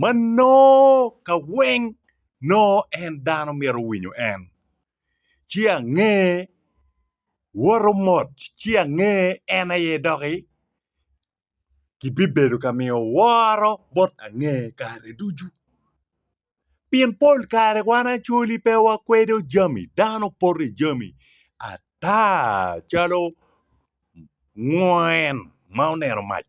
ma nongo ka weng nongo en dano myero owinyo en, ci ange woto mot ci ange en aye doki kibibedo ka miyo woro bot ange kare ducu. Pien pol kare wan acoli pe wakwedo jami dano poto i jami ata calo ngwen ma oneno mac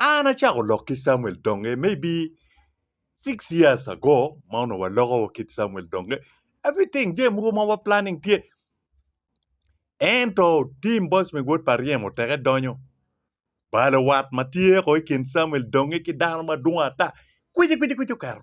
An acako lok ki Camuel Donge maybe six years ago ma onongo waloko ki Camuel Donge everything jami mogo ma wa planning tye ento tim boss me wod pa ryemo teke donyo balo wat ma tye ko i kin Camuel Donge ki dano madwong ata kwici kwici kwici oketo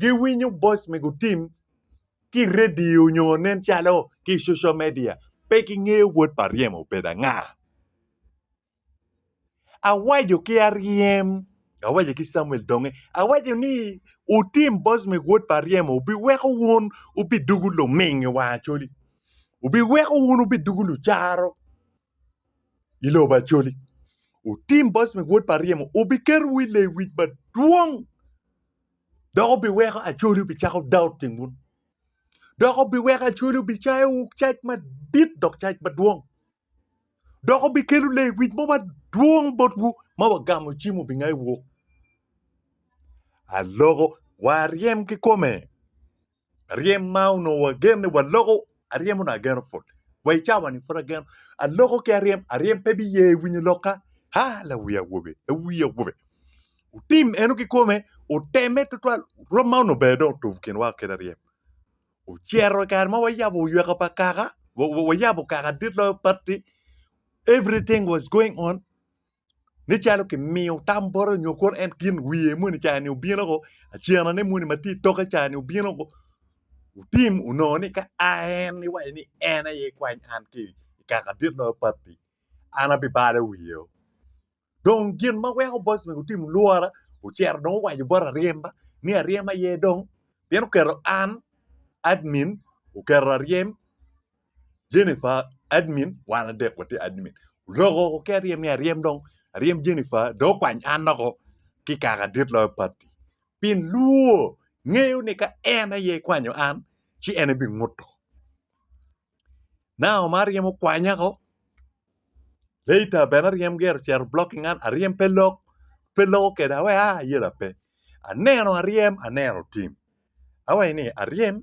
giwinyo boice me gutim ki i redio nyo nen calo ki i social media pe gingeyo wod pa ryem obedo anga. Awaco ki aryem awaco ki Camuel donge awaco ni wutim boice me wod pa ryem wubiweko wun wubidugu luming i wang Acholi wubiweko wun wubidugu lucaro i lobo Acholi wutim boice me wod pa ryem wubiketo wi lewic madwong Dok obiweko acoli obicako daot i ngut. Dok obiweko acoli obicayo cac madit dok cac madwong. Dok obikelo lewic mo madwong botwu ma wagamo cim obingayo wok. Aloko waryem ki kome. ryem ma onongo agen ni waloko aryem onongo ageno put wa i cawa ni pud ageno aloko ki aryem aryem pe biye winyo lokka ha la wi awobe la wi awobe otim eno ki kome oteme tutwal rwom ma onongo bene dong otum kinwa kit aryem ocero i kare ma wayabo oyweka pa kaka wa- wa- wayabo kaka dit loyo patti everything was going on nen calo kimiyo tam bwote nyo kono en gin wiye moni cani obino o acena ne moni matye itoke cani obino o otim onongo ni ka a en iwaco ni en aye ikwany an ki kaka dit ma papi an abibalo wiye o dong gin ma weko boss mego otim lwora ocito dong owaco bot aryema ni aryem aye dong pien oketo an admin oketo aryem Jennifer admin wan adek watye admin loko oko ki aryem ni aryem dong aryem Jennifer dong okwany an loko ki kaka dit loyo pati pi luwo ngeyo ni ka en aye kwanyo an ci en ebi nguto now ma aryem okwanya ko later bene aryem gero cero blocking an aryem pe lok pe loko kede awe a yela pe aneno aryem aneno tim awe ni aryem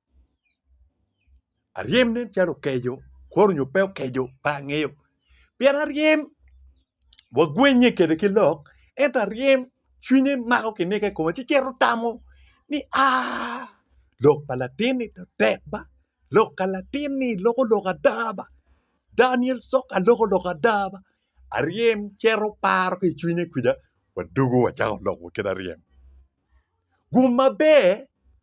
aryem nen calo okeco kor onyo pe okeco pe angeyo pien aryem wagwennye kede ki lok ento aryem cwinye mako kinige i kome ci cito tamo ni aa lok pa latin-ni to tek ba lok ka latin-ni loko lok ada ba Daniel coka loko lok ada ba aryem cito paro ki i cwinye kwija wadwogo wacako lok wa kit aryem gum maber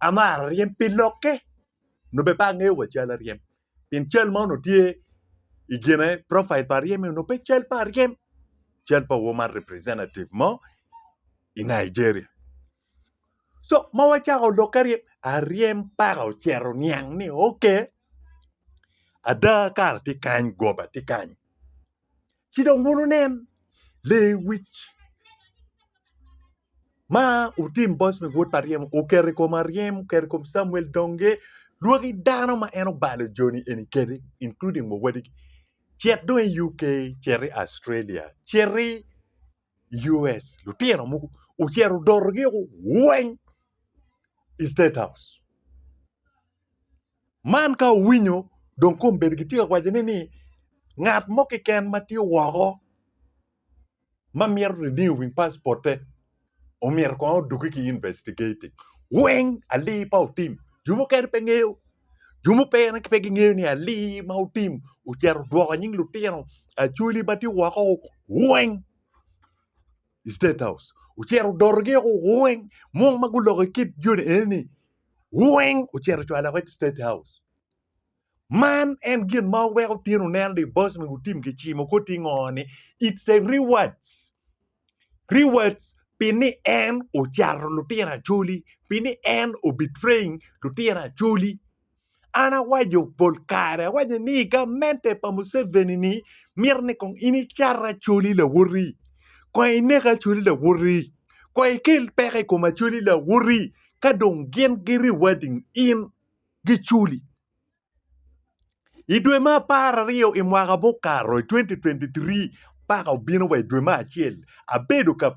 amaro ryem pi lokke nyo bene pe angeyo wa cal aryem pien cal ma onongo tye i kine profil pa aryem ni onongo pe cal pa aryem cal pa wo ma representative mo i Nigeria so ma wacako lokke aryem, aryem paka ocito oniang ni ok ada kara tye kany goba tye kany. Ci dong wun wunen lewic ma otim boc me wod pa ryem oketo i kom aryem oketo i kom Camuel donge lwaki dano ma en obalo joni eni kede including wa wadigi cit dong i UK cit i Australia cit i US lutino mogo ocito odotogi weng i state house. Man ka owinyo dong kome bedo gitye ka wacone ni ngat mo keken ma tye woko ma mito renew passport-te omyero kong odogge ki investigating weng ali pa otim jo mukene pe ngeyo jo mukene pe gingeyo ni ali ma otim ocito odwoko nying lutino acholi ma tye woko weng. i State House ocito odotogi oko weng mung ma guloko i kit joni eni weng ocito ocwalo oko i State House. Man en gin ma weko tyen oneno ni boss mi gutim ki cimo ko tingo ni it's a rewards. Rewards pi ni en ocato lutino acholi, pi ni en obetraying lutino acholi. An awaco pol kare, awaco ni i gamente pa Museveni ni mito ni kong in icat Acholi Lawoti, kong inek Acholi Lawoti, kong ikel peko i kom Acholi Lawoti ka dong gin gi rewarding in gi culi. I dwe me apar aryo i mwaka mukato i 2023 paka obino wa i dwe me acel abedo ka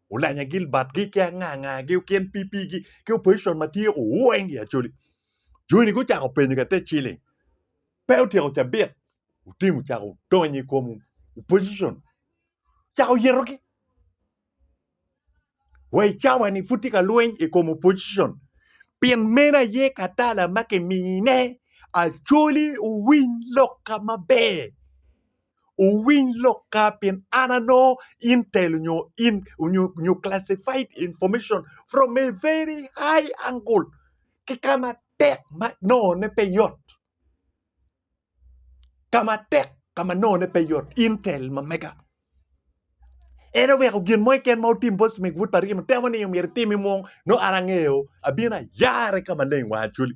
Olanya gilbatgi ki angangagi okin pipigi ki opposition ma tyeko weng i Acholi. Joni gucako penyo ka te ciling. Pe otyeko cabit. Otim ocako donyo i kom opposition. Cako yetogi. Wa i cawa ni pud tye ka lweny i kom opposition. Pien meno aye katala ma kimine Acholi owiny lok ka maber. owiny lokka pien an anongo intel nyo in nyo classified information from a very high angle ki kama tek ma nongo ne pe yot kama tek kama nongo ne pe yot intel ma mega en oweko gin mo keken ma otim bot smith wod pa ryemo temo ni myero itimi mo nongo an angeyo abino ayare kama leng wang acholi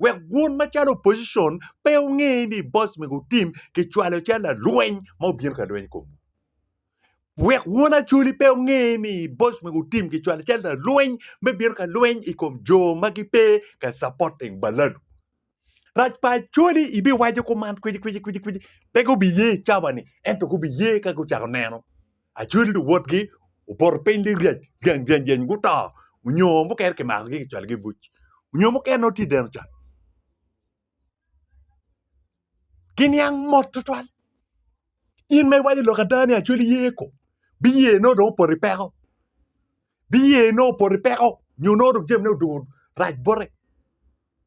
wek wun macalo opposition pe wunge ni boss me gutim ki cwalo calo lalweny ma obino ka lweny kom wek wun acoli pe wunge ni boss me gutim ki cwalo calo lalweny me bino ka lweny i kom jo ma gipe ka supporting balalu rac pa acoli ibiwaco kuman kwici kwici kwici kwici pe gubiye cabani ento gubiye ka gucako neno Acwali luwotgi opoto piny ni ryec ryeny ryeny ryeny guto onyo mukene kimakogi kicwalogi i buc onyo mukene nongo tye i deno can giniang mot tutwal in ma iwaco lok ada ni acwali ye ko biye nongo dong opoto i peko biye nongo opoto i peko nyo nongo dong jamine odoko rac bote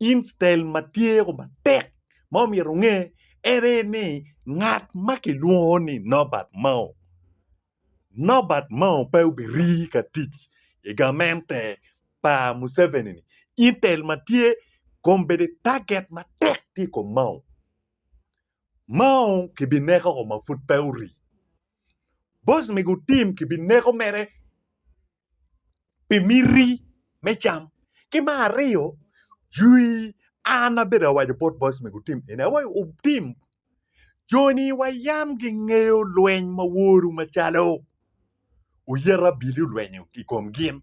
Instein ma tye ko matek ma omyero onge ene ni ngat ma kilwongo ni Norbert Mao, Norbert Mao pe obirii ka tic i gamente pa Museveni ni intel ma tye kom bedi target matek tye i kom Mao. Mao kibineko ma pud pe orii. Boss me gutim kibineko mere pi miti me cam ki me aryo jwi an abedo awaco bot boc ma gutim eni awaco wutim joni wa yam gingeyo lweny ma woru macalo oyet abili olwenyo i kom gin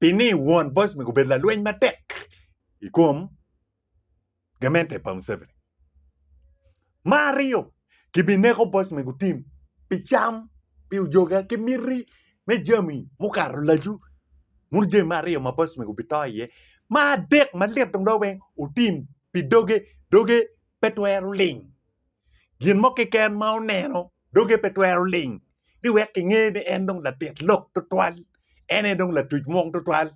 Pi ni won Bosnic obedo lalweny matek i kom gamente pa Museveni. Ma aryo, kibineko Bosnic otim pi cam, pi ojoga ki miti me jami mukato lacu. Munu jami ma aryo ma Bosnic obito iye. Ma adek ma lit dong loyo weng otim pi doge, doge pe twero ling. Gin mo keken ma oneno doge pe twero ling ni wek kinge ni en dong latit lok tutwal, en aye dong latuc mwong tutwal.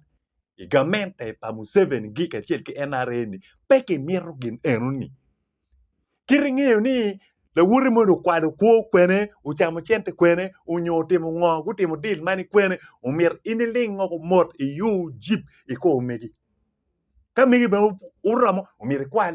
I gamente pa Museveni gi kacel ki NRA ni pe kimito gin eno ni. Kit ingeyo ni lawoti moni okwalo kwo kwene, ocamo cente kwene, onyo otimo ngo, gutimo deal mani kwene, omyero in iling woko mot iyu jip ikor megi. Ka megi bene oromo omyero ikwal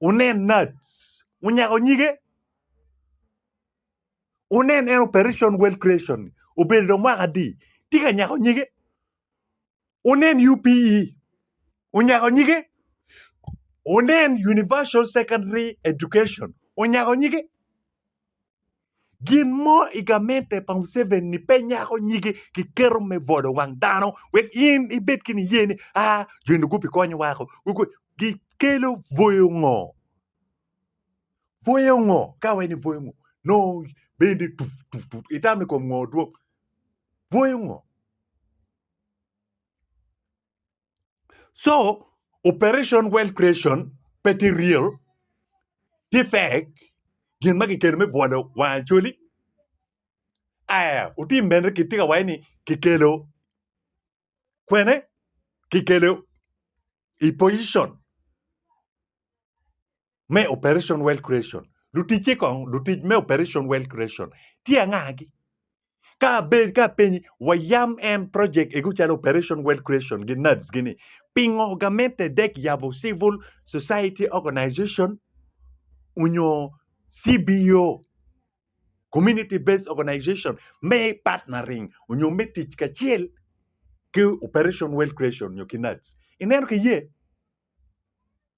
wunen Nats onyako nyige, wunen en Operation World Creation obedo dong mwaka adi tye ka nyako nyige, wunen UPE onyako nyige, wunen Universal Secondary Education onyako nyige. Gin mo i gamente pa Museveni pe nyako nyige ki keto me bolo wang dano wek in ibed ki niye ni aa jo eni gubi konyo wako gi kelo bwoyo ngo? Bwoyo ngo ka wai ni bwoyo ngo nongo bendi tut tut tut itamo i kom ngo dwong bwoyo ngo? So operation wealth creation pe tye real, tye fake, gin ma kikelo me bwolo wang Acholi. Aya, wutim mene kitye ka waye ni kikelo kwene kikelo i position me Operation Wealth Creation. Luticce kong, lutic me Operation Wealth Creation tye angagi? Ka abed ka apenyi, wayam en project ego calo Operation Wealth Creation gi NADS gini, pingo gamente dek yabo Civil Society Organization onyo CBO, Community Based Organization, me partnering onyo me tic kacel ki Operation Wealth Creation onyo ki NADS? Ineno ki ye?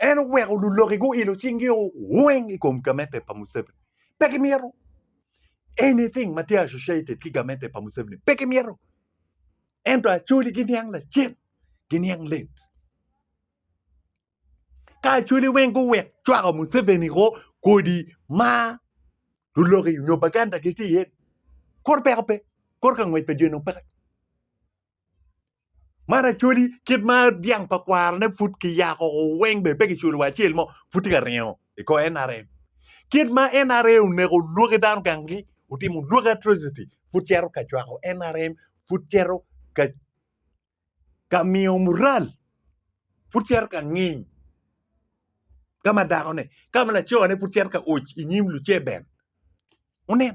en oweko luloki guilo cingi weng i kom gamente pa Museveni pe gimyero anything ma tye associated ki gamente pa Museveni pe gimyero ento acoli giniang lacen giniang let ka acoli weng guwek cwako Museveni ko kodi ma luloki nyo baganda gitye iye kor peko pe kor ka ngwec pa dyeno peke Man acholi kit ma dyang pa kwarone pud kiyako weng bene pe kiculo wa acel mo pud tye ka ringo i kor NRM kit ma NRM oneko lwaki dano gang gi otimo lwaki atrocity pud cito ka cwako NRM pud cito ka miyo mural pud cito ka nging ka ma dako ne ka ma laco ne pud cito ka oc inyim luceben wunen.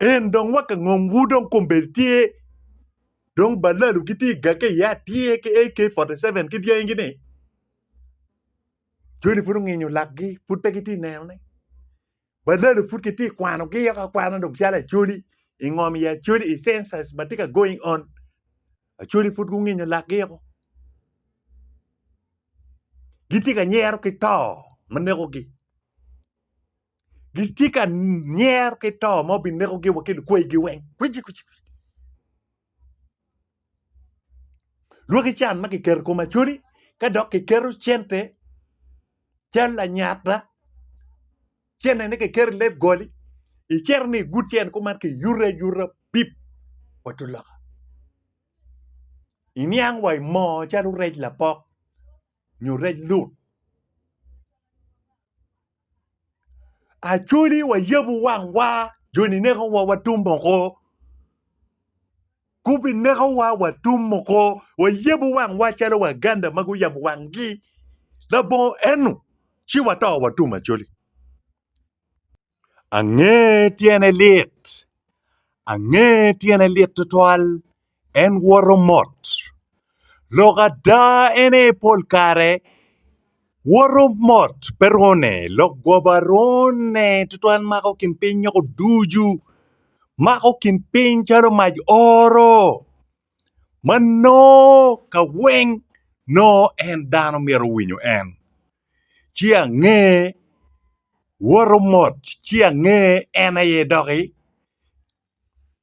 En dong wa ka ngom wu dong kombedi tye dong balalu ki tye ga ke ya tye ke AK 47 ki dyangi gini joni pud onginyo lakgi pud pe gitye neno ne balalu pud ki tye kwano gi yoko kwana dong calo acholi i ngom i acholi i census ma tye ka going on acholi pud gunginyo lakgi yoko gitye ka nyero ki to ma neko gi gitye ka nyero ki to ma obinekogi wa ki lukwegi weng kwiji kwiji lwaki can ma kiketo i kom acodi ka dok kiketo cente cal lanyata centene kiketo i leb goli icito ni igut cente kuman kiyuto ayuta pip wa tung loka iniang wa i moo calo rec lapok nyo rec lut Acholi wayabu wangwa joni nekowa watum oko gubinekowa watum oko wayabu wangwa calo waganda ma guyabo wangi labongo eno ci wato watum Acholi ange tyene lit ange tyene lit tutwal. En woto mot. Lok ada ene pol kare woto mot pe rwone lok goba rwone tutwal mako kin piny nyoko ducu mako kin piny calo mac oro ma nongo ka weng nongo en dano myero owinyo en ci ange woto mot ci ange en aye doki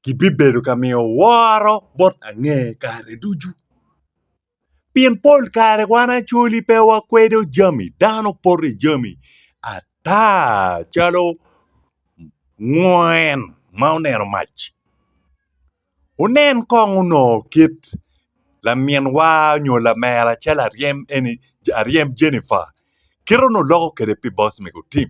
kibibedo ka miyo woro bot ange kare ducu. Pien pol kare wan acoli pe wakwedo jami dano poto i jami ata calo ngwen ma oneno mac. Wunen kong onongo kit laminwa nyo lamera calo aryem eni aryem Jennifer kite onongo loko kwede pi boss mego tim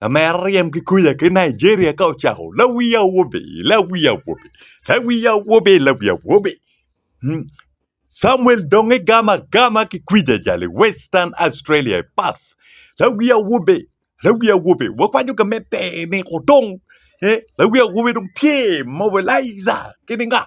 Lamera ryem ki kuca ki Nigeria ka ocako lawi awobe lawi awobe lawi awobe lawi awobe Samuel dong igam agama ki kwic ajal i Western Australia i Perth lawi awobe lawi awobe wakwaco ka me teni kudong lawi awobe dong tye mobilizer kidinga.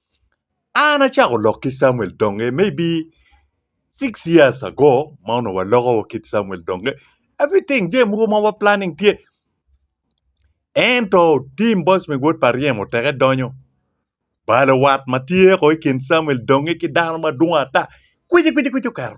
An acako lok ki Camuel Donge maybe six years ago ma onongo waloko ki Camuel Donge everything jami mogo ma wa planning tye ento tim boss me wod pa ryemo teke donyo balo wat ma tye ko i kin Camuel Donge ki dano madwong ata kwici kwici kwici oketo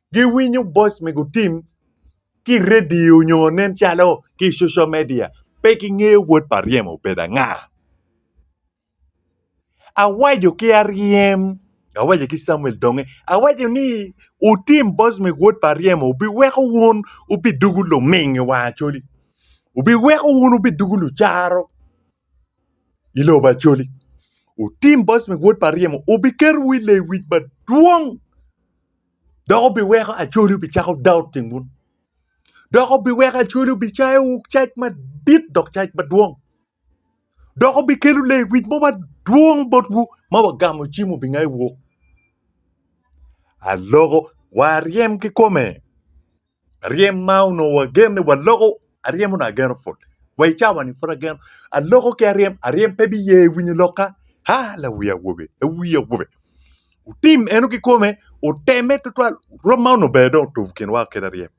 giwinyo boc me gutim ki redio nyo nen calo ki social media pe ki ngeyo wod pa ryem obedo anga awaco ki aryem awaco ki samuel donge awaco ni wutim boc me wod pa ryem obi weko wun wubi dugu luming i wang acholi obi weko wun wubi dugu lucaro i lobo acholi wutim boc me wod pa ryem obi keto wu i lewic madwong Dok obiweko acoli obicako daot i ngut, dok obiweko acoli obicayo cac madit dok cac madwong, dok obikelo lewic mo madwong botwu ma wagamo cim obingayo wok. Aloko wa aryem kikome. Ryem ma onongo agen ni waloko aryem onongo ageno put wa i cawa ni pud ageno aloko ki aryem aryem pe biye winyo lokka a lawi awobe lawi awobe otim eno kikome oteme tutwal rwom ma onongo bene dong otum kinwa kit aryem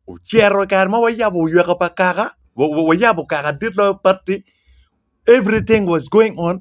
ocito kare ma wayabo oyweka pa kaka wa- wa- wayabo kaka dit loyo batti everything was going on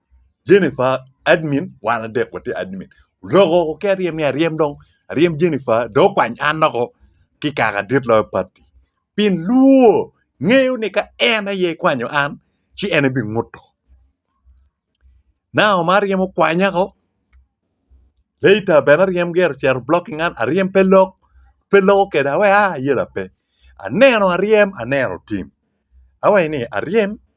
Jennifer admin wan adek watye admin lok oo ki aryem ni aryem dong aryem Jennifer dong okwany an loko ki kaka dit loyo pati pien lwor ngeyo ni ka en aye kwanyo an ci en aye binguto now ma aryem okwanya oo later bene aryem gire ocito blocking an aryem pe lok pe loko keda awe a ayela pe aneno aryem aneno tim awaci ni aryem.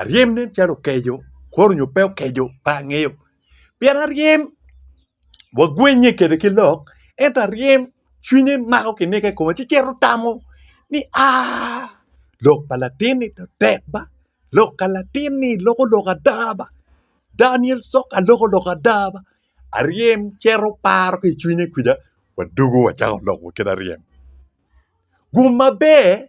Aryem nen calo okeco kwor onyo pe okeco pe angeyo pien aryem wagwennye kwede ki lok ento aryem cwinye mako kiniko i kome ci cito tamo ni aah lok pa latin ni tek ba lok pa latin ni loko lok ada ba Daniel coka loko lok ada ba aryem cito paro ki i cwinye kwija wadwogo wacako lok wa kit aryem gum maber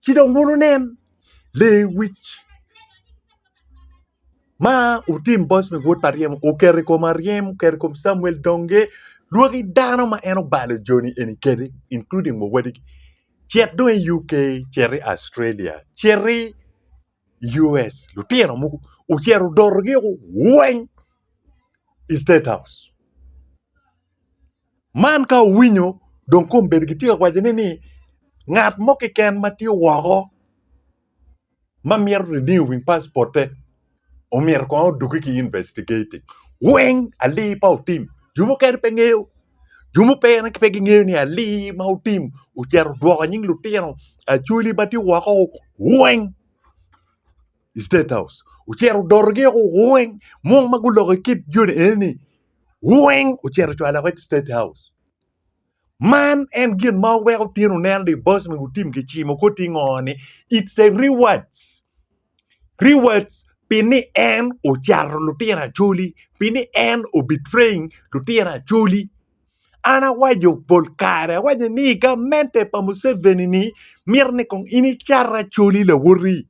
Ci dong wun wunen lewic ma utim bot me wod pa ryemo oketo i kom aryem, oketo i kom Camuel donge lwaki dano ma en obalo joni eni kede including wa wadigi cit dong i UK, cit i Australia, cit i US lutino mogo ocito odotogi woko weng i state house. Man ka owinyo dong kong obedo gitye ka wacone ni ngat mo keken ma tye woko ma mito renew passport-te omyero kong odogge ki investigating weng ali pa otim jo mukene pe ngeyo jo mukene pe gingeyo ni ali ma otim ocito odwoko nying lutino acholi ma tye woko weng i state house ocito odotogi woko weng mo ma guloko kit joni eni-ni. weng ocito ocwalo woko i state house man en gin ma weko tyen oneno ni boss me gutim ki cimo ko ti ngo ni it's a rewards rewards pi ni en ocato lutino acholi pi ni en o betraying lutino acholi An awaco pol kare, awaco ni i gamente pa Museveni ni mito ni kong in icat Acholi Lawoti,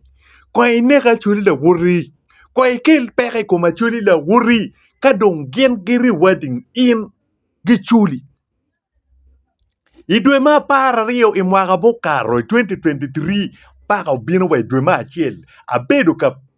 kong inek Acholi Lawoti, kong ikel peko i kom Acholi Lawoti ka dong gin gi rewarding in gi culi. I dwe me apar aryo i mwaka mukato i 2023 paka obino wa i dwe me acel abedo ka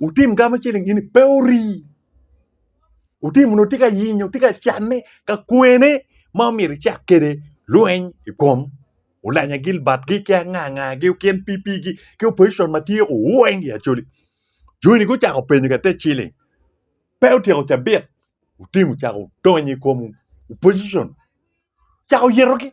Wutim gamo ciling ini pe ori. Wutim nongo tye ka yinyo, tye ka canne, ka kwene ma omyero icak kede lweny i kom Olanya Gilbert gi ki anga anga gi KNPP gi ki opposition ma tye ku weng i Acholi. Joni gucako penyo ka te ciling. Pe otyeko cabit. Wutim wucako donyo i kom opposition. Cako yetogi.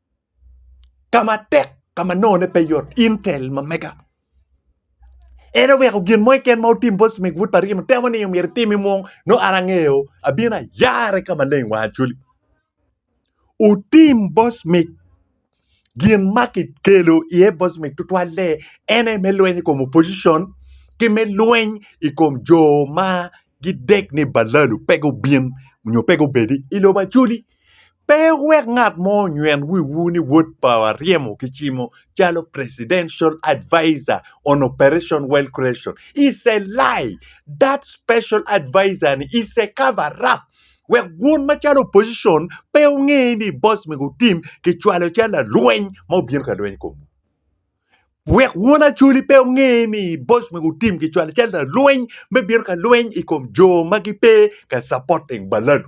ka matek ka ma nongone pe yot intel ma mega en oweko gin mo keken ma otim bot Smith Wood pa Rino temo ni myero itimi mung no an angeyo abino ayare ka maleng wa acoli otim bot Smith gin ma kikelo iye bot Smith tutwalle en aye me lweny i kom opposition ki me lweny i kom jo ma gidek ni balalu pe gubin nyo pe gubedi i lobo acoli Pe wuwek ngat mo onyweng wiwu ni wod pa wa ryemo ki cimo calo presidential adviser on operation wealth creation. It's a lie. That special adviser ni is a cover up. Wek wun macalo opposition pe wunge ni boss me gutim kicwalo calo lalweny ma obino ka lweny komwu. Wek wun acoli pe wunge ni boss me gutim kicwalo calo lalweny me bino ka lweny i kom jo ma gipe ka supporting balalu.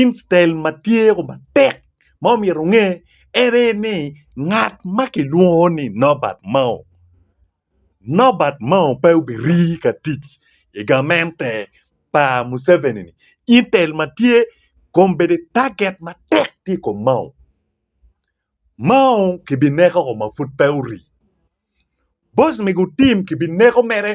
Instead ma tye matek ma omyero onge ene ni ngat ma kilwongo ni Nobert Mao, Nobert Mao pe obirii ka tic i gamente pa Museveni ni instead ma tye kong bedi target matek tye i kom Mao, Mao kibineko ma pud pe orii, boss me gutim kibineko mere.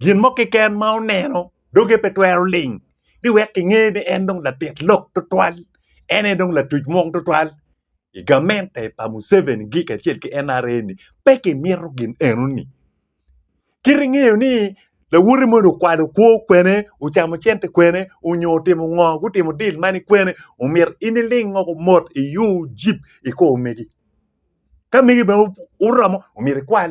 Gin mo keken ma oneno doge pe twero ling ni wek kinge ni en dong latit lok tutwal, en aye dong latuc mwong tutwal i gamente pa Museveni gi kacel ki NRA ni pe kimito gin eno ni. Kit ingeyo ni lawote moni okwalo kwo kwene, ocamo cente kwene onyo otimo ngo, gutimo deal mani kwene omyero in iling o mot iur jip ikor megi. Ka megi bene oromo omyero ikwal.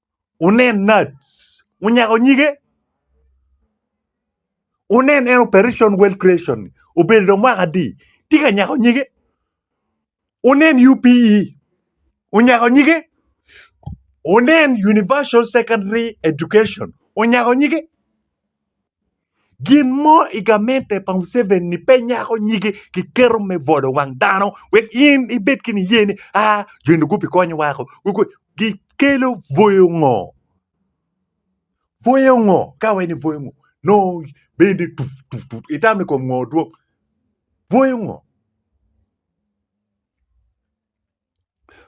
wunen NAADS onyako nyige, wunen en Operation Wealth Creation obedo dong mwaka adi tye ka nyako nyige, wunen UPE onyako nyige, wunen Universal Secondary Education onyako nyige. Gin mo i gamente pa Museveni pe nyako nyige ki keto me bwolo wang dano wek in ibed ki niye ni aa jo eni gubikonyo wako gikelo bwoyo ngo? Bwoyo ngo ka wai ni bwoyo ngo nongo bendi tut tut tut itamo i kom ngo dwong bwoyo ngo?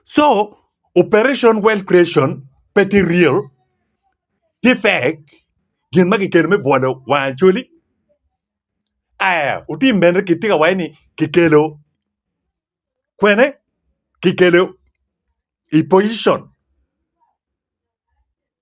So operation wealth creation pe tye real, tye fake, gin ma kikelo me bwolo wang Acholi. Aya otim bene kitye ka waci ni kikelo kwene kikelo i position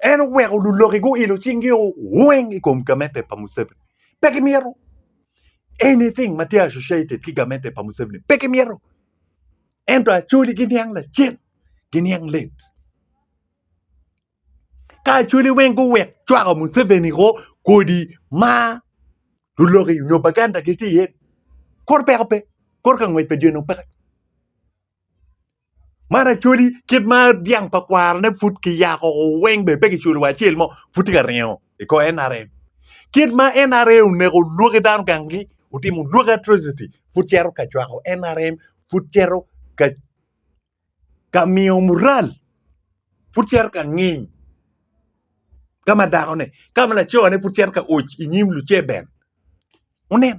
en oweko luloki guilo cingi weng i kom gamete pa Museveni pe gimyero anything ma tye associated ki gamete pa Museveni pe gimyero ento acoli giniang lacen giniang let ka acoli weng guwek cwako Museveni ko kodi ma luloki nyo baganda gitye iye kor peko pe kor ka ngwec pa dyene opeke Man acholi kit ma dyang pa kwarane pud ki yako weng bene pe kiculo wa acel mo pud tye ka ringo i kor NRM kit ma NRA oneko lwaki dano gang gi otimo lwaki atrocity pud cito ka cwako NRM pud cito ka miyo mural pud cito ka nging ka ma dako ne ka ma laco ne pud cito ka oc i nyim luceber wunen.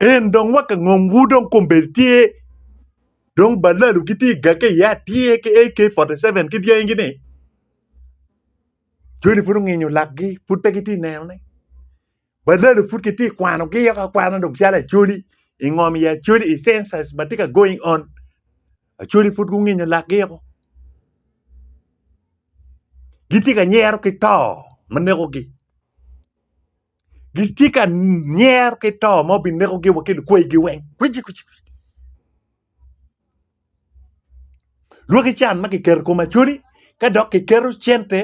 En dong wa ka ngom wu dong kombedi tye dong balalu ki tye ga ke ya tye ke AK 47 ki dyangi gini joni pud onginyo lakgi pud pe gitye neno ne balalu pud ki tye kwano gi yok akwana dong calo acholi i ngom i acholi i census ma tye ka going on acholi pud gunginyo lakgi oko gitye ka nyero ki to ma nekogi gitye ka nyer ki to ma obinekogi wa ki lukwegi weng kwiji kwiji lwaki can ma kiketo i kom acholi ka dok kiketo cente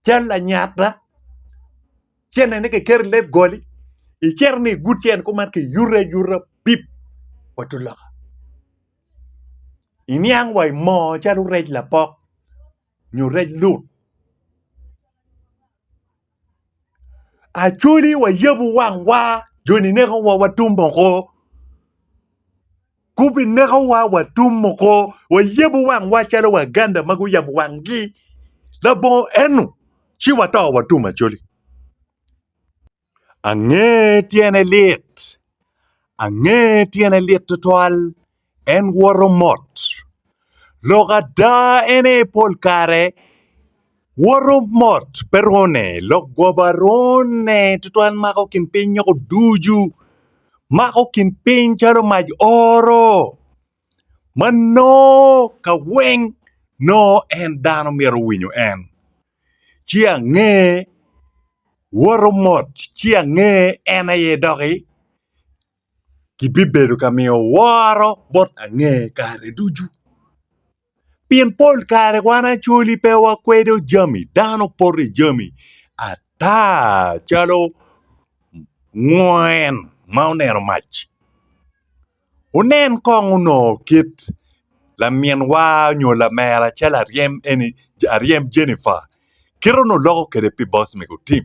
cal lanyata centene kiketo i leb goli icito ni igut cente kuman kiyuto ayuta pip wa tung loka iniang wa i moo calo rec lapok nyo rec lut Acholi wayabu wangwa joni nekowa watum oko gubinekowa watum oko wayabu wangwa calo waganda ma guyabo wangi labongo eno ci wato watum Acholi ange tyene lit ange tyene lit tutwal. En woto mot. Lok ada ene pol kare woto mot pe rone lok goba rone tutwal mako kin piny nyoko ducu mako kin piny calo mac oro ma nongo ka weng nongo en dano myero owinyo en ci ange woto mot ci ange en aye doki kibibedo ka miyo woro bot ange kare ducu. Pien pol kare wan acoli pe wakwedo jami dano poto i jami ata calo ngwen ma oneno mac. Wunen kong onongo kit laminwa nyo lamera calo aryem eni aryem Jennifer kite onongo loko kwede pi boss mego Tim.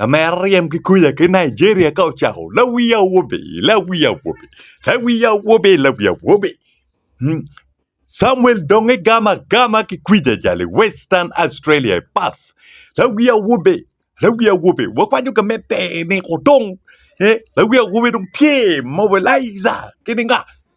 Lamera ryem ki kuca ki Nigeria ka ocako lawi awobe lawi awobe lawi awobe lawi awobe Samuel dong igam agama ki kwic ajal i Western Australia i Perth lawi awobe lawi awobe wakwaco ka me teni kudong lawi awobe dong tye mobilizer kidinga.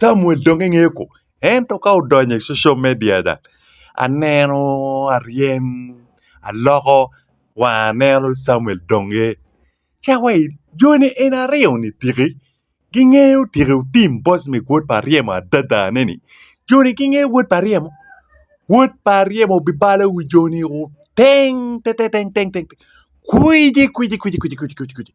Camuel dong engeyo kor ento ka odonyo i social media ca aneno aryem aloko wanga aneno Camuel dong aye ca wa joni eni aryo ni tiki gingeyo tiki otim post me wod pa aryem adada ne ni joni gingeyo wod pa aryem wod pa aryem obibalo wi joni teng teteng teng teng kwiji kwiji kwiji kwiji kwiji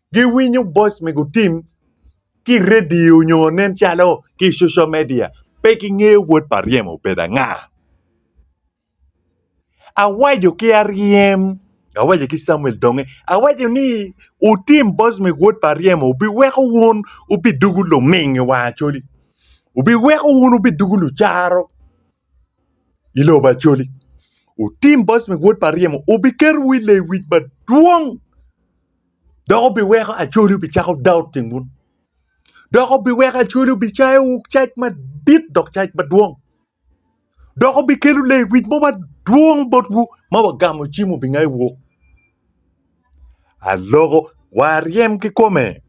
giwinyo boice me gutim ki redio nyo nen calo ki social media pe ki ngeyo wod pa ryem obedo anga awaco ki aryem awaco ki samuel donge awaco ni wutim boice me wod pa ryem obi weko wun wubi dugu luming i wang acholi obi weko wun wubi dugu lucaro i lobo acholi wutim boice me wod pa ryem obi keto wu i lewic madwong. Dok obiweko acholi obicako dao timwu, dok obiweko acholi obicayowu cac madit dok cac madwong, dok obikelo lewic mo madwong botwu ma wagamo cim obingayo wok. Aloko wa aryem kikome.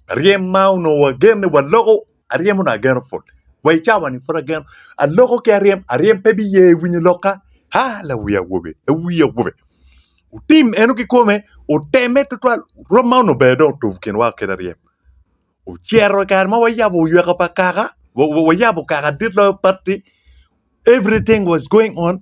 Ryem ma onongo agen ni waloko aryem onongo ageno put wa i cawa ni pud ageno aloko ki aryem aryem pe biye winyo lok ka ha la wi awobe la wi awobe otim eno ki kome oteme tutwal romo ma onongo ber dong otum kinwa kit aryem ocito kare ma wayabo oyweka pa kaka wa- wa- wayabo kaka dit loyo batti everything was going on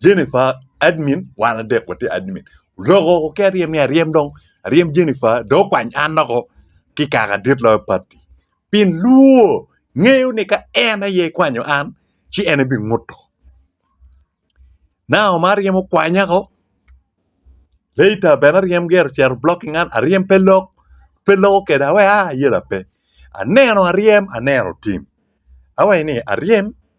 Jennifer admin wan adek watye admin loko ki aryem ni aryem dong aryem Jennifer dong okwany an doko ki kaka dit loyo pati pi luwo ngeyo ni ka en aye kwanyo an ci en aye binguto now ma aryem okwanya ko later bene aryem gire ocito blocking an aryem pe lok pe loko kede awe a ayela pe aneno aryem aneno tim awaci ni aryem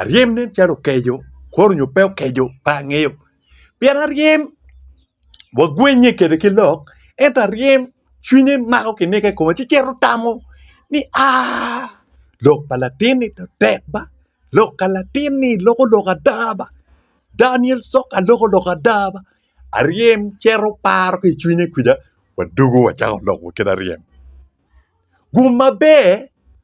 aryem nen calo okeco kore nyo pe okeco pe angeyo pien aryem wagwennye kwede ki lok ento aryem cwinye mako kineko i kome ci cito tamo ni aah lok pa latinni to tek ba lok ka latinni loko lok ada ba Daniel coka loko lok ada ba aryem cito paro ki i cwinye kwija wadwogo wacako lok wa kit aryem gum maber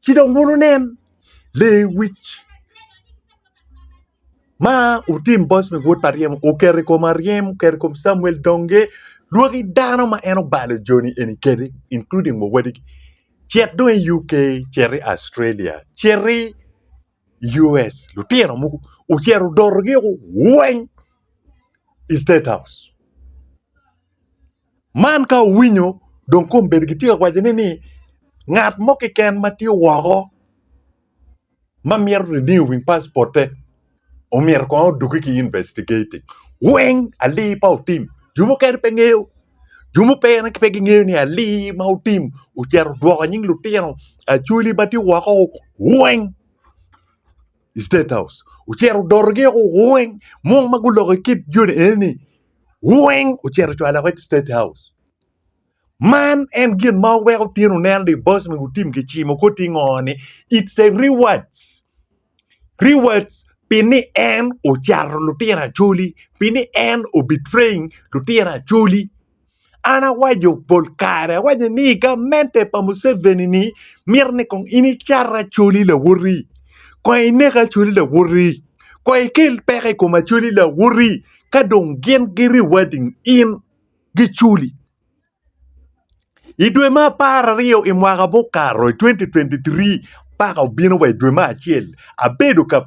Ci dong wun wunen lewic ma wutim bot me wod pa ryemo oketo i kom aryem, oketo i kom Camuel donge lwaki dano ma en obalo joni eni kede including wa wadigi cit dong i UK, cit i Australia, cit i US lutino mogo ocito odotogi woko weng i state house. Man ka owinyo dong kong bedo gitye ka wacone ni ngat mo keken ma tye woko ma mito renew passport omyero kong oduki ki investigating weng ali pa otim jo mukene pe ngeyo jo mukene pe gingeyo ni ali ma otim ocito odwoko nying lutino acholi ma tye woko weng i state house ocito odotogi weng mo ma guloko kit joni eni ni weng ocito ocwalo woko i state house man en gin ma weko tyen oneno ni boss me gutim ki cimo ko ti ngo ni it's a rewards rewards pi ni en ocato lutino acholi pi ni en o betraying lutino acholi An awaco pol kare, awaco ni i gamente pa Museveni ni mito ni kong in icat Acholi Lawoti, kong inek Acholi Lawoti, kong ikel peko i kom Acholi Lawoti ka dong gin gi rewarding in gi culi. I dwe me apar aryo i mwaka mukato i 2023 paka obino wa i dwe me acel abedo ka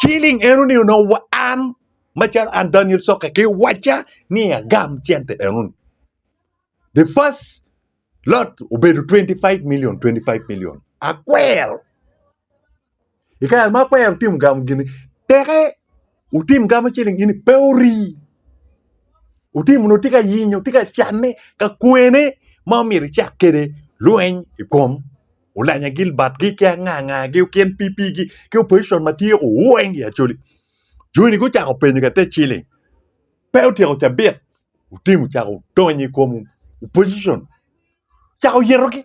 Ciling eno ni onongo wa an macalo an Daniel Soke ki waca ni agam cente eno ni. The first lot obedo 25 million, 25 million. Akwero. Ikare ma akwero timo gamo gini, teke Wutim gamo ciling in pe ori. Wutim nongo tye ka yinyo, tye ka canne, ka kwene ma omyero icak kede lweny i kom Olanya Gilbert gi ki anga anga gi okin PP gi ki opposition ma tye ku weng i Acholi. Joni gucako penyo ka te ciling. Pe otyeko cabit. Wutim wucako donyo i kom opposition. Cako yetogi.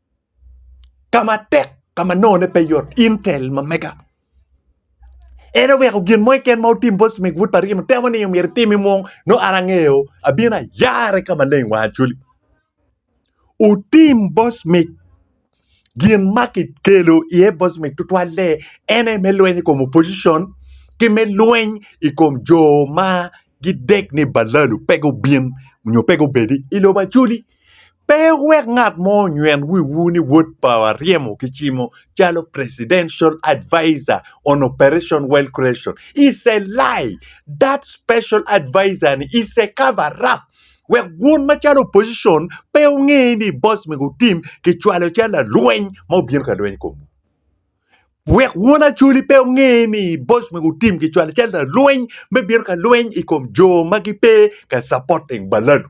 ka matek ka ma nongone pe yot intel ma mega en oweko gin mo keken ma otim bot Smith Wood pa Rino temo ni myero itimi mung no an angeyo abino ayare ka maleng wa acoli otim bot Smith gin ma kikelo iye bot Smith tutwalle en aye me lweny i kom opposition ki me lweny i kom jo ma gidek ni balalu pe gubin nyo pe gubedi i lobo acoli Pe wuwek ngat mo onyweng wiwu ni wod pawa ryemo ki cimo calo presidential adviser on operation wealth creation is a lie that special adviser ni is a cover up wek wun macalo opposition pe wunge ni boss me gutim ki cwalo calo lalweny ma obino ka lweny komwu wek wun acoli pe wunge ni boss me gutim ki cwalo calo lalweny me bino ka lweny i kom jo ma gipe ka supporting balalu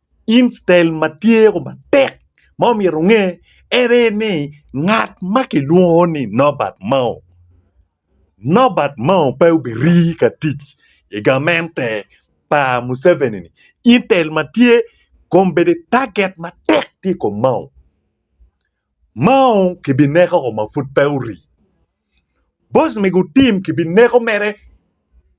Instead ma tye matek ma omyero onge ene ni ngat ma kilwongo ni Nobert Mao, Nobert Mao pe obirii ka tic i gamente pa Museveni ni instead ma tye kong bedi target matek tye i kom Mao, Mao kibineko ma pud pe orii, boss me gutim kibineko mere.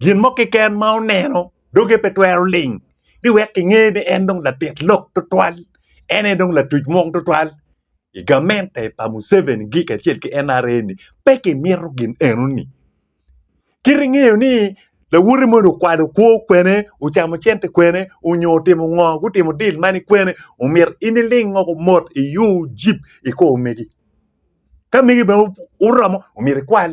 Gin mo keken ma oneno doge pe twero ling ni wek kinge ni en dong latit lok tutwal, en aye dong latuc mwong tutwal. I gamente pa Museveni gi kacel ki NRA ni pe kimito gin eno ni. Kit ingeyo ni lawoti moni okwalo kwo kwene, ocamo cente kwene, onyo otimo ngo, gutimo deal mani kwene, omyero in iling woko mot iyu jip ikor megi. Ka megi bene oromo omyero ikwal.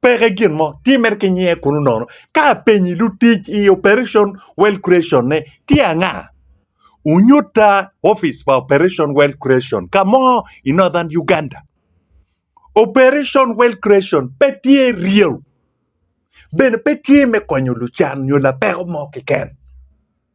Peke gin mo, tye mere ki nyinge kunu nono. Ka apenyi lutic i Operation Wealth Creation ne tye anga? Wunyutta opic pa Operation Wealth Creation ka mo i Northern Uganda. Operation Wealth Creation pe tye ryeo, bene pe tye me konyo lucan nyo lapeko mo keken.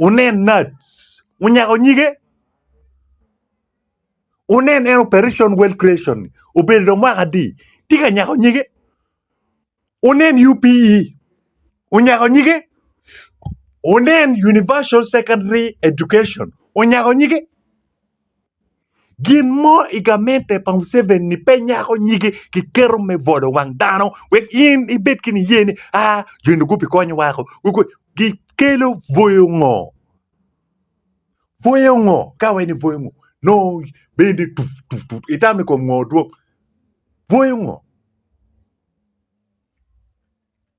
Wunen Nats, wunyako nyige. Wunen en Operation World Creation, obedo dong mwaka adi, tye ka nyako nyige. Wunen UPE, onyako nyige. Wunen Universal Secondary Education, onyako nyige. Gin mo i gamente pa Museveni ni pe nyako nyige ki keto me bolo wang dano wek in ibed ki niye ni aa jo eni gubi konyo wako gi kelo bwoyo ngo bwoyo ngo ka wai ni bwoyo ngo nongo bendi tut tut tut itamo i kom ngo dwong bwoyo ngo.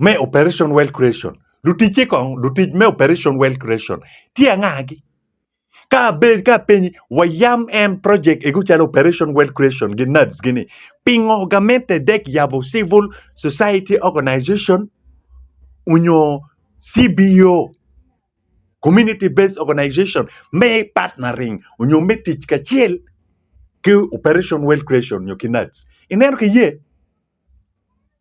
me Operation Wealth Creation. Luticce kong, lutic me Operation Wealth Creation tye angagi? Ka abed ka apenyi, wayam en project ego calo Operation Wealth Creation gi NADS gini, pingo gamente dek yabo Civil Society Organization onyo CBO, Community Based Organization, me partnering onyo me tic kacel ki Operation Wealth Creation onyo ki NADS? Ineno ki ye?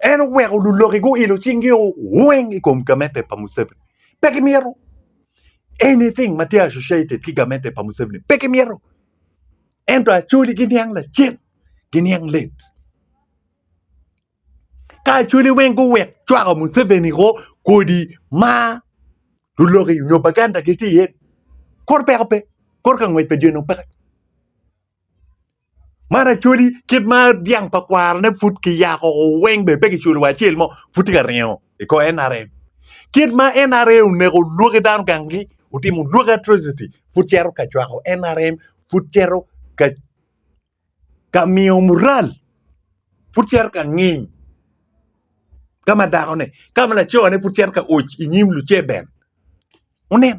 en oweko luloki guilo cingi weng i kom gamete pa Museveni pe gimyero anything ma tye associated ki gamete pa Museveni pe gimyero ento acoli giniang lacen giniang let ka acoli weng guwek cwako Museveni ko kodi ma luloki nyo Baganda gitye iye kor peko pe kor ka ngwec pa dyene opeke Man acholi kit ma dyang pa kwarane pud ki yako weng bene pe kiculo wa acel mo pud tye ka ringo i kor NRM kit ma NRA oneko lwaki dano gang gi otimo lwaki atrocity pud cito ka cwako NRM pud cito ka miyo mural pud cito ka nging ka ma dako ne ka ma laco ne pud cito ka oc i nyim luceber wunen.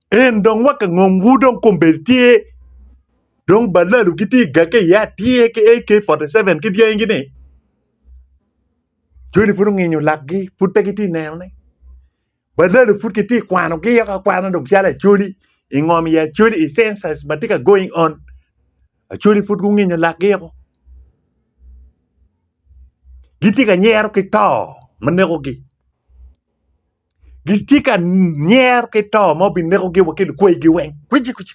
En dong wa ka ngom wu dong kombedi tye dong balalu ki tye ga ke ya tye ke AK 47 ki dyangi gini joni pud onginyo lakgi pud pe gitye neno ne balalu pud ki tye kwano gi yok akwana dong calo acholi i ngom i acholi i census ma tye ka going on acholi pud gunginyo lakgi oko gitye ka nyero ki to ma neko gi gitye ka nyer ki to ma binekogi wa ki lukwegi weng kwiji kwiji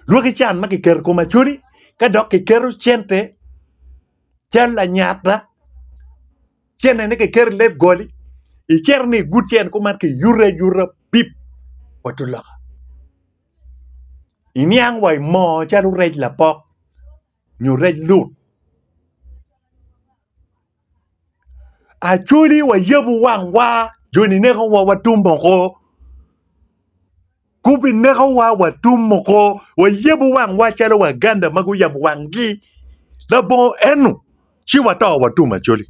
lwaki can ma kiketo i kom acholi ka dok kiketo cente cal lanyata cente-ni kiketo i leb goli icito ni igut cente kuman kiyuto ayuta pip wa tung loka iniang wa i moo calo rec lapok. nyo rec lut. Acoli wayabu wangwa jo ninekowa watum moko gubinekowa watum moko wayabu wangwa calo waganda ma guyabo wangi labongo eno ci wato watum acoli.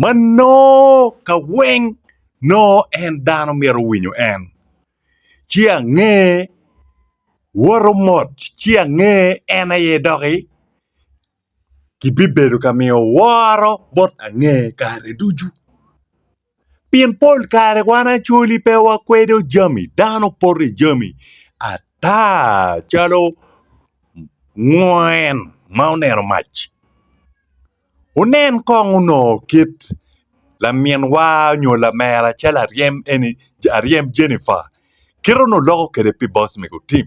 ma nongo ka weng nongo en dano myero owinyo en, ci ange woto mot ci ange en aye doki kibibedo ka miyo woro bot ange kare ducu. Pien pol kare wan acoli pe wakwedo jami dano poto i jami ata calo ngwen ma oneno mac. Wunen kong onongo kit laminwa nyo lamera calo aryem Jennifer kite onongo loko kwede pi boss mego Tim.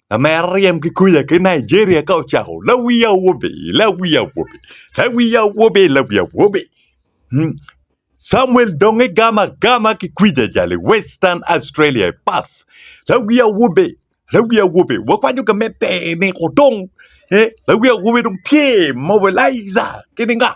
Lamera ryem ki kuca ki Nigeria ka ocako lawi awobe, lawi awobe, lawi awobe, lawi awobe. Hmm. Samuel dong igam agama ki kuca jali Western Australia i Perth. Lawi awobe, lawi awobe. Wakwanyo ka mete ni odong. Eh, lawi awobe dong tye mobilizer kini nga.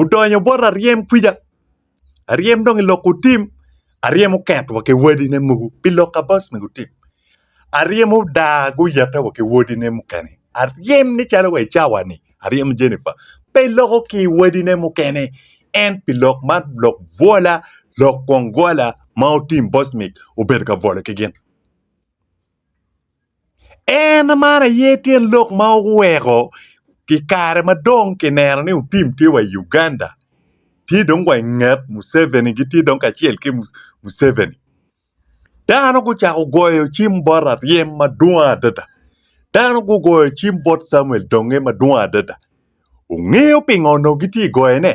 odonyo bot aryem kwica aryem dong i lok otim aryem oket wa ki wadine mogo pi lok kabas ma gutim aryem odar guyete wa ki wadine mukene aryem ni calo wa i cawa ni aryem Jennifer pe loko ki i wadine mukene en pi lok man lok bwola lok gwong gwala ma otim bosmik obedo ka bwolo ki gin En man aye tyen lok ma oweko i kare ma dong kineno ni otim tye wa i Uganda tye dong wa i nget Museveni gitye dong kacel ki Museveni dano gucako goyo cim bot Aryem madwong adada dano gugoyo cim bot Camuel Donge madwong adada wungeyo pingo onongo gitye ka goyone?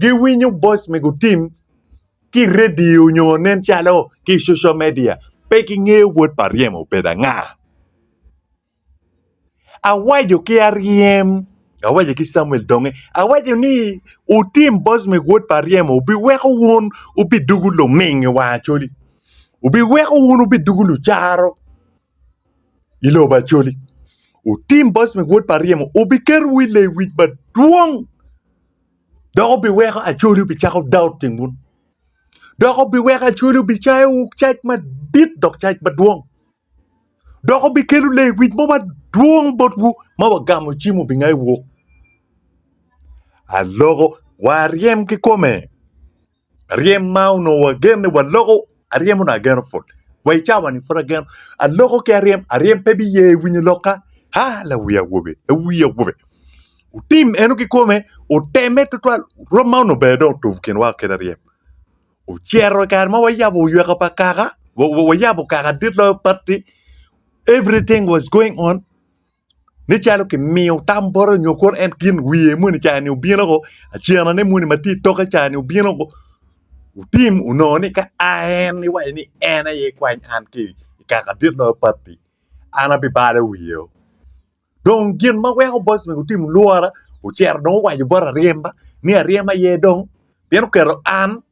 giwinyo boice me gutim ki redio nyo nen calo ki social media pe ki ngeyo wod pa ryem obedo anga awaco ki aryem awaco ki samuel donge awaco ni wutim boice me wod pa ryem obi weko wun wubi dugu luming i wang acholi obi weko wun wubi dugu lucaro i lobo acholi wutim boice me wod pa ryem obi keto wu i lewic madwong. dok obiweko acholi obicako daot i ngut dok obiweko acholi obicayo cac madit dok cac madwong dok obikelo lewic mo madwong botwu ma wagamo cim obingayo wok aloko waryem ki kome Aryem ma onongo wagen ni waloko, aryem onongo ageno pol. Wa i cawani pud ageno. Aloko ki aryem, aryem pe biye winyo lokka. Ha, lawi awobe, lawi awobe. Otim eno ki kome, oteme tutwal, rwom ma onongo bene dong otum kinwa kede aryem. Ocero i kare ma wayabo oyweka pa kaka, wa- wa- wayabo kaka dit loyo patti, everything was going on. nen calo kimiyo tam bote nyo kono en gin wiye moni cani obino woko acenane moni ma tye itokke cani obino woko otim onongo ni ka a en iwaco ni en aye ikwany an ki i kaka dit loyo patti an abibalo wiyeo dong gin ma weko boys mego otim lwora ocito dong owaco bot aryema ni aryem aye dong pien oketo an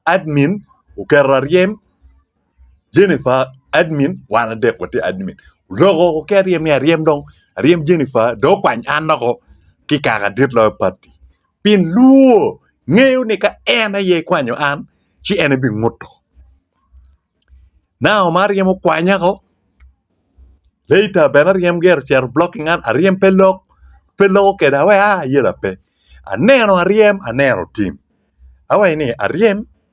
admin oketo aryem Jennifer admin wan adek watye admin lok oo ki aryem ni aryem dong aryem Jennifer dong okwany an loko ki kaka adit loyo pati pien lwor ngeyo ni ka en aye kwanyo an ci en aye binguto now ma aryem okwanya oo later bene aryem gire ocito blocking an aryem pe lok pe loko keda awe a ayela pe aneno aryem aneno tim awaci ni aryem.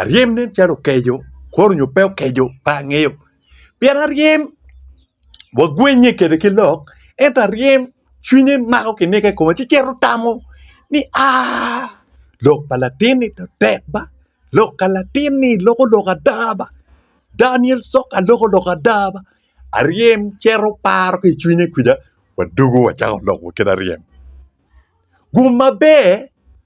aryem nen calo okeco kore nyo pe okeco pe angeyo pien aryem wagwennye kwede ki lok ento aryem cwinye mako kineko i kome ci cito tamo ni aah lok pa latinni to tek ba lok ka latinni loko lok ada ba Daniel coka loko lok ada ba aryem cito paro ki i cwinye kwija wadwogo wacako lok wa kit aryem gum maber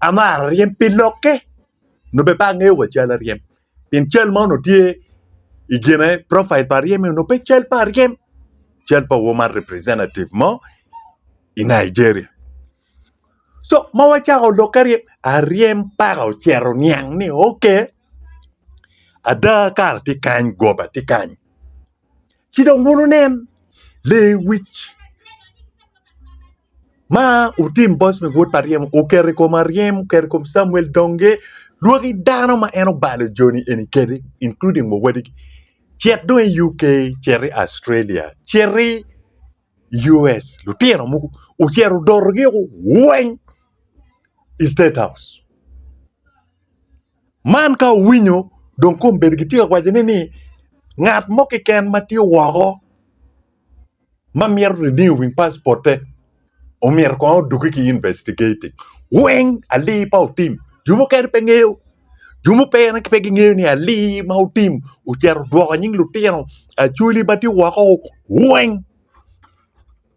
amaro ryem pi lokke nyo bene pe angeyo wa cal aryem pien cal ma onongo tye i kine profil pa aryem ni onongo pe cal pa aryem cal pa woman representative mo i Nigeria so ma wacako lokke aryem, aryem paka ocito oniang ni ok ada kara tye kany goba tye kany. ci dong wun wunen lewic ma wutim bot me wod pa ryemo oketo i kom aryem oketo i kom Camuel donge lwaki dano ma en obalo joni eni kedi including wa wadigi cit dong i UK cit i Australia cit i US lutino mogo ocito odotogi weng i state house. Man ka owinyo dong kong obedo gitye ka wacone ni ngat mo keken ma tye woko ma mito renew wing passport-te omyero kong odugge ki investigating weng ali pa otim jo mukene pe ngeyo jo mukene pe gingeyo ni ali ma otim ocito odwoko nying lutino acholi ma tye woko weng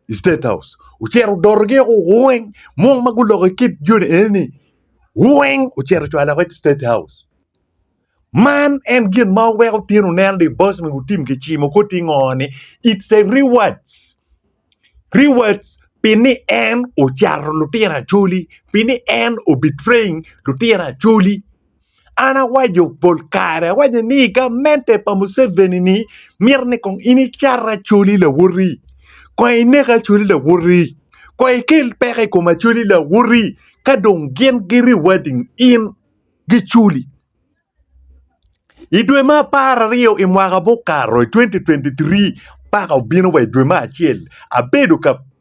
i state house ocito odotogi woko weng mo ma guloko i kit joni eni-ni weng ocito ocwalo woko i state house man en gin ma weko tyen oneno ni boss me gutim ki cimo ko ti ngo ni it's a rewards rewards pi ni en ocato lutino acholi pi ni en o betraying lutino acholi An awaco pol kare, awaco ni gamente pa Museveni ni mito ni kong in icat Acholi Lawoti, kong inek Acholi Lawoti, kong ikel peko i kom Acholi Lawoti ka dong gin gi rewarding in gi culi. I dwe me apar aryo i mwaka mukato i 2023 paka obino wa i dwe me acel abedo ka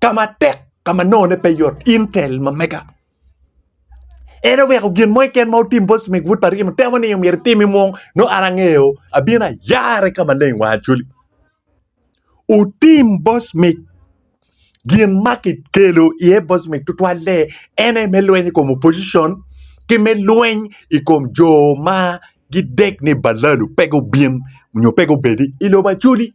ka matek ka ma nongone pe yot intel ma mega en oweko gin mo keken ma otim bot cmik but pa rino temo ni myero itimi mung no an angeyo abino ayare ka maleng wa acoli otim bot cmik gin ma kikelo iye bot cmik tutwalle en aye me lweny i kom opposition ki me lweny i kom jo ma gidek ni balalu pe gubin nyo pe gubedi i lobo acoli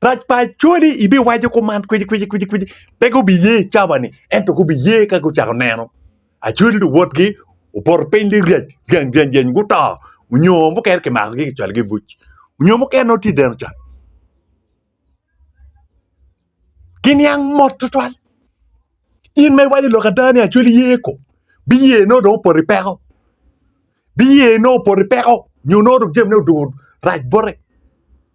Rac pa Acholi ibiwaco kuman kwici kwici kwici kwici pe gubiye i cabani ento gubiye ka gucako neno Acholi luwotgi opoto piny lirac jany jany jany guto onyo mukene kimakogi kicwalogi i buc onyo mukene nongo tye i deno can giniang mot tutwal in ma iwaco lok ada ni Acholi ye ko biye nongo dong opoto i peko biye nongo opoto i peko nyo nongo dong jamine odwogo rac bote.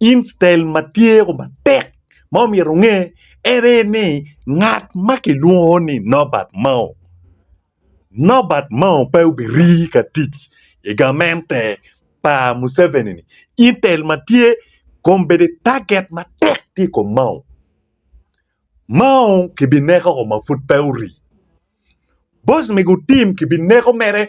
Instein ma tye ko matek ma omyero onge ene ni ngat ma kilwongo ni Norbert Mao, Norbert Mao pe obirii ka tic i gamente pa Museveni ni intel ma tye kom bedi taget matek tye i kom Mao. Mao kibineko ma pud pe orii. Boss me gutim kibineko mere.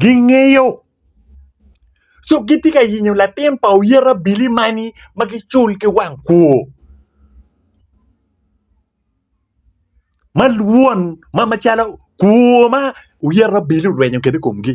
gingeyo co gitye ka yenyo latin pa oyet abili mani ma gicul ki wang kwor ma lwon ma macalo kwor ma oyet abili orwenyo kwede i komgi.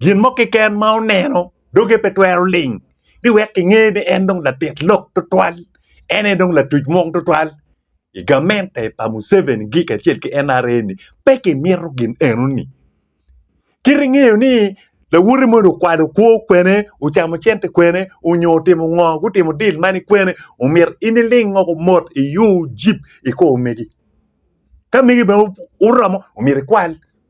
Gin mo keken ma oneno doge pe twero ling ni wek kinge ni en dong latit lok tutwal, en aye dong latuc mwong tutwal. I gamente pa Museveni gi kacel ki NRA ni pe kimito gin eno ni. Kit ingeyo ni lawoti moni okwalo kwo kwene, ocamo cente kwene, onyo otimo ngo, gutimo deal mani kwene, omyero in iling woko mot iyu jip ikor megi. Ka megi bene oromo omyero ikwal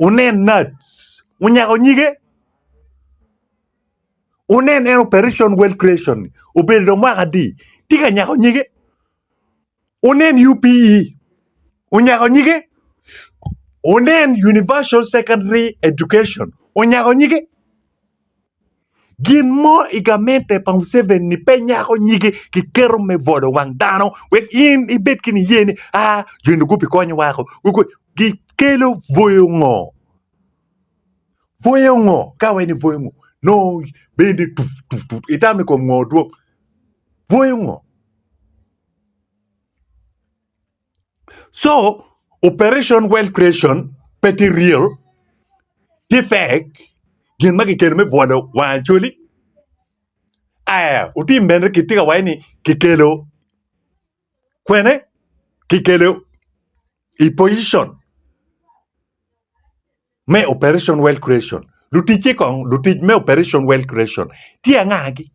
Wunen Nats onyako nyige, wunen en Operation Wealth Creation-ni obedo dong mwaka adi tye ka nyako nyige, wunen UPE onyako nyige, wunen Universal Secondary Education onyako nyige. Gin mo i gamente pa Museveni pe nyako nyige ki keto me bwolo wang dano wek in ibed ki niye ni aa joni gubikonyo wako gikelo bwoyo ngo? Bwoyo ngo ka wai ni bwoyo ngo nongo bendi tut tut tut itamo i kom ngo dwong bwoyo ngo? So operation wealth creation pe tye real, tye fake, gin ma kikelo me bwolo wang Acholi. Aya otim bene kitye ka waco ni kikelo kwene kikelo i position me Operation Wealth Creation. Luticce kong, lutic me Operation Wealth Creation tye angagi?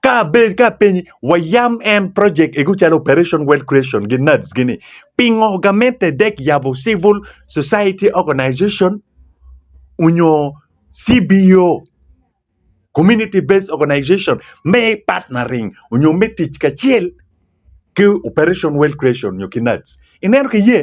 Ka abed ka apenyi, wayam en project egu calo Operation Wealth Creation gi NADS gi ni, pingo gamente dek yabo Civil Society Organization onyo CBO, Community Based Organization, me partnering onyo me tic kacel ki Operation Wealth Creation onyo ki NADS? Ineno ki ye?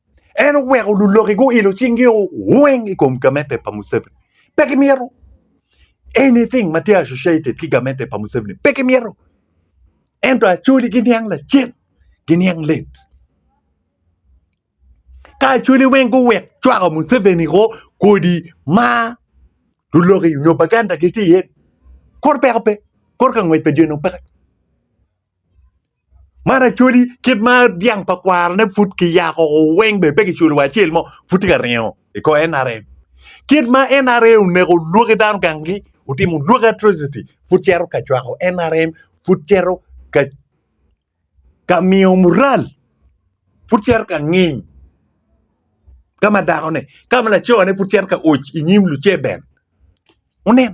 en oweko luloki guilo cingi weng i kom gamente pa Museveni pe kimyero anything ma tye associated ki gamente pa Museveni pe kimyero ento acoli giniang lacen giniang lit ka acoli weng guwek cwako Museveni ko kodi ma luloki nyo baganda gitye iye kor peko pe kor ka ngwec pa dyene opeke Man acholi kit ma dyang pa kwarane pud kiyako weng bene pe kiculo wa acel mo pud tye ka ringo i kor NRM kit ma NRA oneko lwaki dano gangi otimo lwaki atrocity pud cito ka cwako NRM pud cito ka miyo mural pud cito ka nging ka ma dakone ka ma lacone pud cito ka oc i nyim luceben wunen.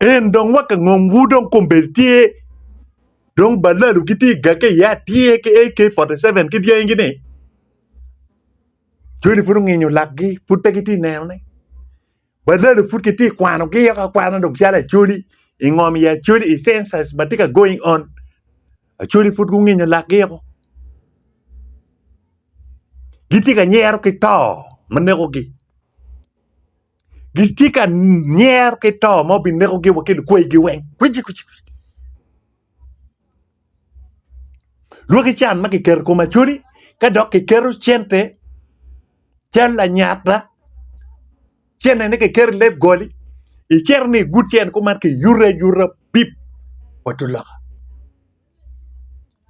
En dong wa ka ngom wu dong kombedi tye dong balalu ki tye ga ke ya tye ke AK 47 ki dyangi gini joni pud onginyo lakgi pud pe gitye neno ne balalu pud ki tye kwano gi yok akwana dong calo acholi i ngom i acholi i census ma tye ka going on acholi pud gunginyo lakgi oko gitye ka nyero ki to ma neko gi gitye ka nyer ki to ma obinekogi wa ki lukwegi weng kwiji kwiji lwaki can ma kiketo i kom acholi ka dok kiketo cente cal lanyata cente-ni kiketo i leb goli icito ni igut cente kuman kiyuto ayuta pip wa tung loka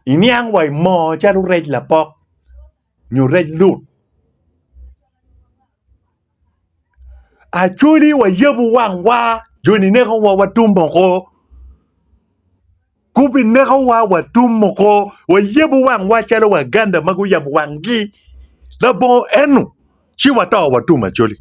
iniang wa i moo calo rec lapok. nyo rec lut. Acoli wayabo wangwa jo ninekowa watum moko gubinekowa watum moko wayabo wangwa calo waganda ma guyabo wangi labongo eno ci wato watum acoli.